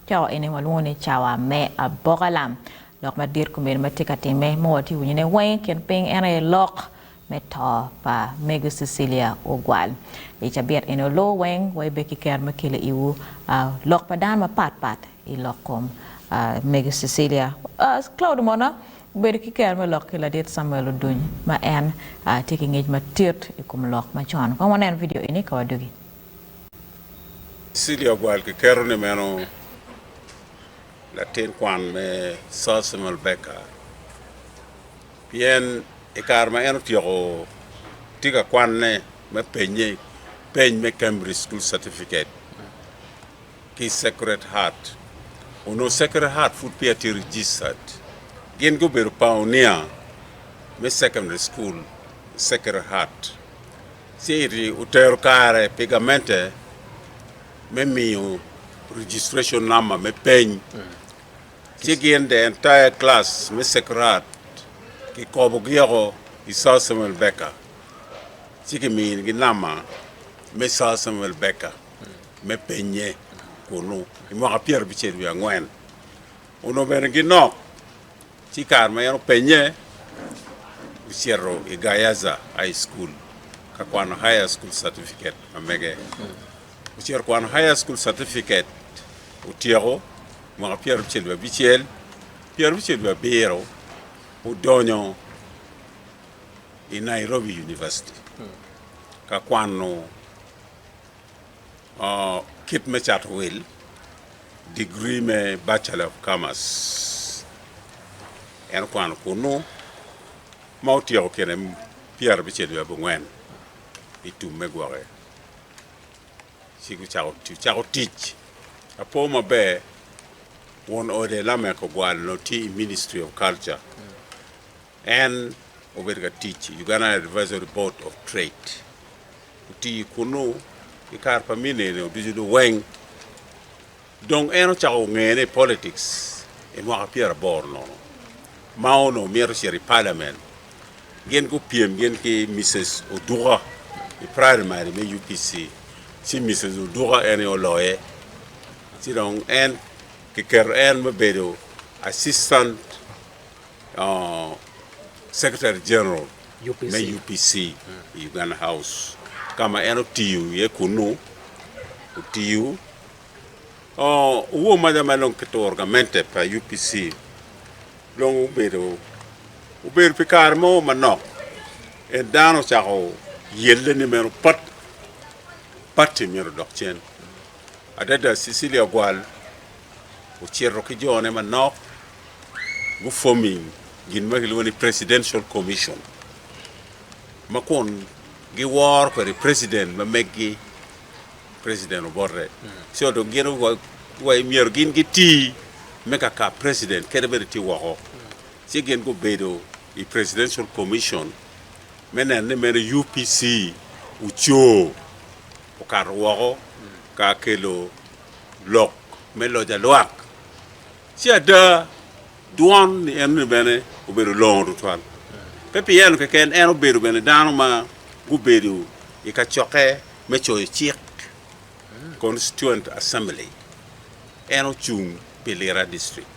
Cawa eni walwongo ni cawa me aboka lam. Lok madit komedo ma tye ka timme ma watye ka winyone weng i kin piny en aye lok me to pa Mego Cecilia Ogwal. I cabit eni oluwo weng waibbe ki kero me kelo iwu lok pa dano mapat pat i lok kom Mego Cecilia. Cloud Omona obedo ki kero me lok ki Ladit Samuel Oduny ma en tye ki ngec madit i kom lok macon. Kong waneno vidio eni ka wadugi. City of World kiketo ni meno latin kwan me Sir Samuel Beckett pien i kare ma en otyeko tye ka kwanne me penye peny me Cambridge School Certificate ki Sacred Heart. Onongo Sacred Heart pud peya tye registered. Gin gubedo pioneer me secondary school i Sacred Heart. City otero kare pi gamente me miyo registration number me peny ci gin the entire class me Sacred ki kobo gi oko i Sir Samuel Baker ci ki mini gi nama me Sir Samuel Baker me penye kunu i mwaka pyera abicel wiye angwen onongo bene gi nok Ci kare ma en openye, ocito i Gayaza High School ka kwano Higher School Certificate ma mege. Ocito kwano Higher School Certificate, otyeko mwaka pyerabicel wiye abicel, pyerabicel wiye abiro, odonyo i Nairobi University ka kwano Kit me cato wil, Digri me Bachelor of Commerce en okwano kunnu ma otyeko kine pyerabicel wiye abongwen i tum me gwoke ci ocako tic. Apo maber, won ode Lamek Ogwal onongo tye i Ministry of Culture. En obedo ka tic i Uganda Advisory Board of Trade. Otiyo kunnu ki kare pa minene ducu dong weng. Dong en ocako ngene i politics i mwaka pyera boro nono ma onongo mito cito i Parliament. Gin gupyem gin ki Mises Oduka i primary me UPC ci Mises Oduka en aye oloye ci dong en kiketo en me bedo Assistant Secretary General me UPC i Uganda House ka ma en otiyo iye kunnu. Otiyo owo maca ma dong kituro gamente pa UPC dong obedo obedo pi kare mo manok en dano ocako yelle ni meno pat pati myero odok cen adada Cecilia Ogwal ocito ki jone manok gufomi gin ma kilwongo ni Presidential Commission ma kun giwor kwede President ma meggi, President Obote. Co dong gin owa- wa myero gin giti me ka ka President kene bene tye woko. Ci gin gubedo i Presidential Commission me neno ni meno UPC ocoo okato woko ka kelo lok me loc alwak. Ci ada, dwon ni enoni bene obedo longo tutwal. Pe pi eno keken, en obedo bene dano ma gubedo i kacokke me coyo cik, Constituent Assembly. En ocung pi Lira District.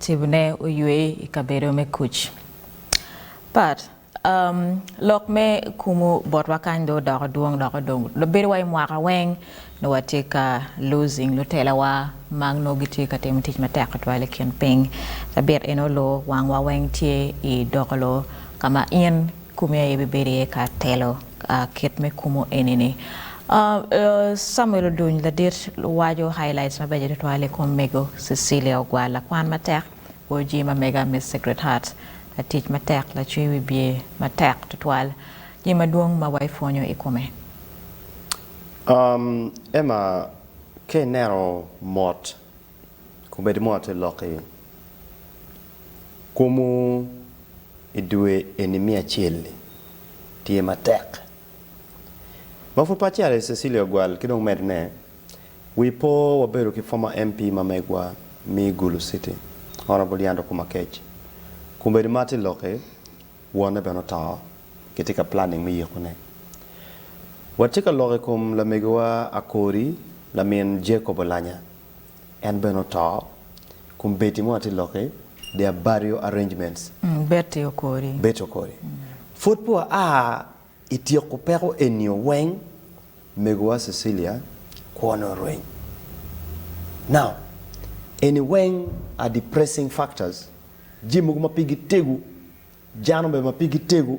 Cibone oywe i kabedo me kuc. Pat. Um, lok me kumu botwa kany do odoko dwong doko dong bedowa i mwaka weng nongo watye ka losing lutelawa ma nongo gitye ka timo tic matek tutwal i kin piny. Cabit eno lo wangwa weng tye i dokolo ka ma in Kumi aye bibedo iye ka atelo. Kit me kumo eni-ni, Camuel oduny ladit waco highlights mabeco tutwal i kom mego Cecilia Ogwal, lakwan matek, Oji ma mega Miss Secret Heart, latic matek, lacwe wibye matek tutwal. Jami madwong ma waipwonyo i kome. Emma, Ka ineno mot Kubed mot i lok i komwu i dwe eni me acel-li tye matek. Ma pud pe acel i Cecilia Ogwal ki dong medde ne, wi po wabedo ki former MP ma megwa me Gulu City Honourable Leandro Kumakec. Kubed mot i lok i wonne bene oto kitye ka planning me yiko ne. Watye ka lok i kom lamegiwa Akori lamin Jacob Olanya. en bene oto kun Betty mo atye loki their burial arrangements. Betty Okori. Betty Okori. Pwod pe waa i tyeko peko enio weng megowa Cecilia kwone orweny. Now eni weng are depressing factors jami mogo ma pigi tego jano bene ma pigi tego.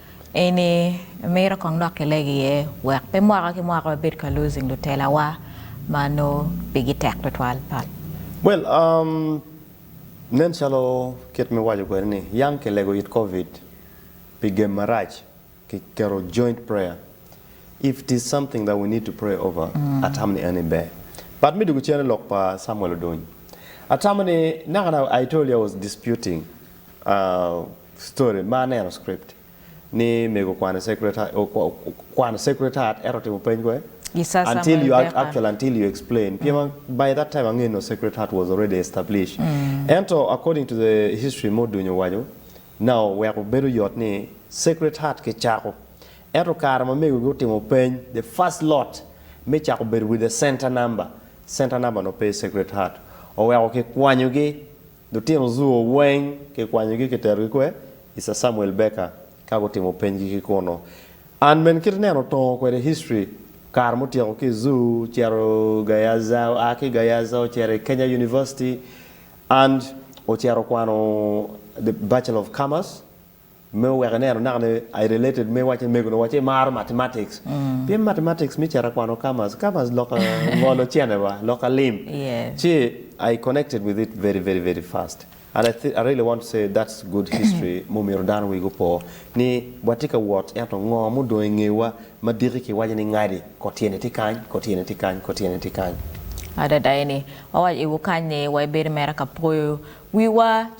Eni mito kong dok kileg iye wek pe mwaka ki mwaka wabed ka losing lutelawa ma nongo pigi tek tutwal, Pat. Well, um, nen calo kit me waco kwede ni yang kilego it covid pi gem marac ki keto joint prayer if it is something that we need to pray over atamo ni eni ber. But me dwogo cen i lok pa Samuel Odony, atamo ni naka naka Aitolia was disputing uh, Story, Ma aneno script ni mego okwano secretariat okwano secretariat ento otimo peny kwe? I Sir Until Samuel you Beckham. actually until you explain pien by that time angeyo nongo secretariat was already established ento according to the history ma odunyo owaco na oweko bedo yot ni secretariat kicako ento kare ma mego gi otimo peny the first lot me cako bedo with the center number, center number nongo pe i secretariat oweko kikwanyo gi Lutino Zhou weng kikwanyogi kiterogi kwer i Sir Samuel Baker ka gutimo penygi ki kunu. An bene kit ineno otongo kwede history kare mutyeko ki i Zhou cito Gayaza, oa ki Gayaza ocito i Kenya University and ocito okwano the Bachelor of Commerce. Me wek ineno naka ni I related me wacce mego ni wacce imaro mathematics pien mathematics me cito akwano commerce, commerce lok ngolo cene wa lok alim ci I connected with it very very very fast and I I really want to say that's good history ma omyero dano wigi opo ni watye ka wot ento ngo ma odong ingewa ma diki ki waco ni ngadi ko tyene tye kany ko tyene tye kany ko tyene tye kany. Adada eni. Wawaco iwu kany ni wa ibedo mere ka poyo wiwa.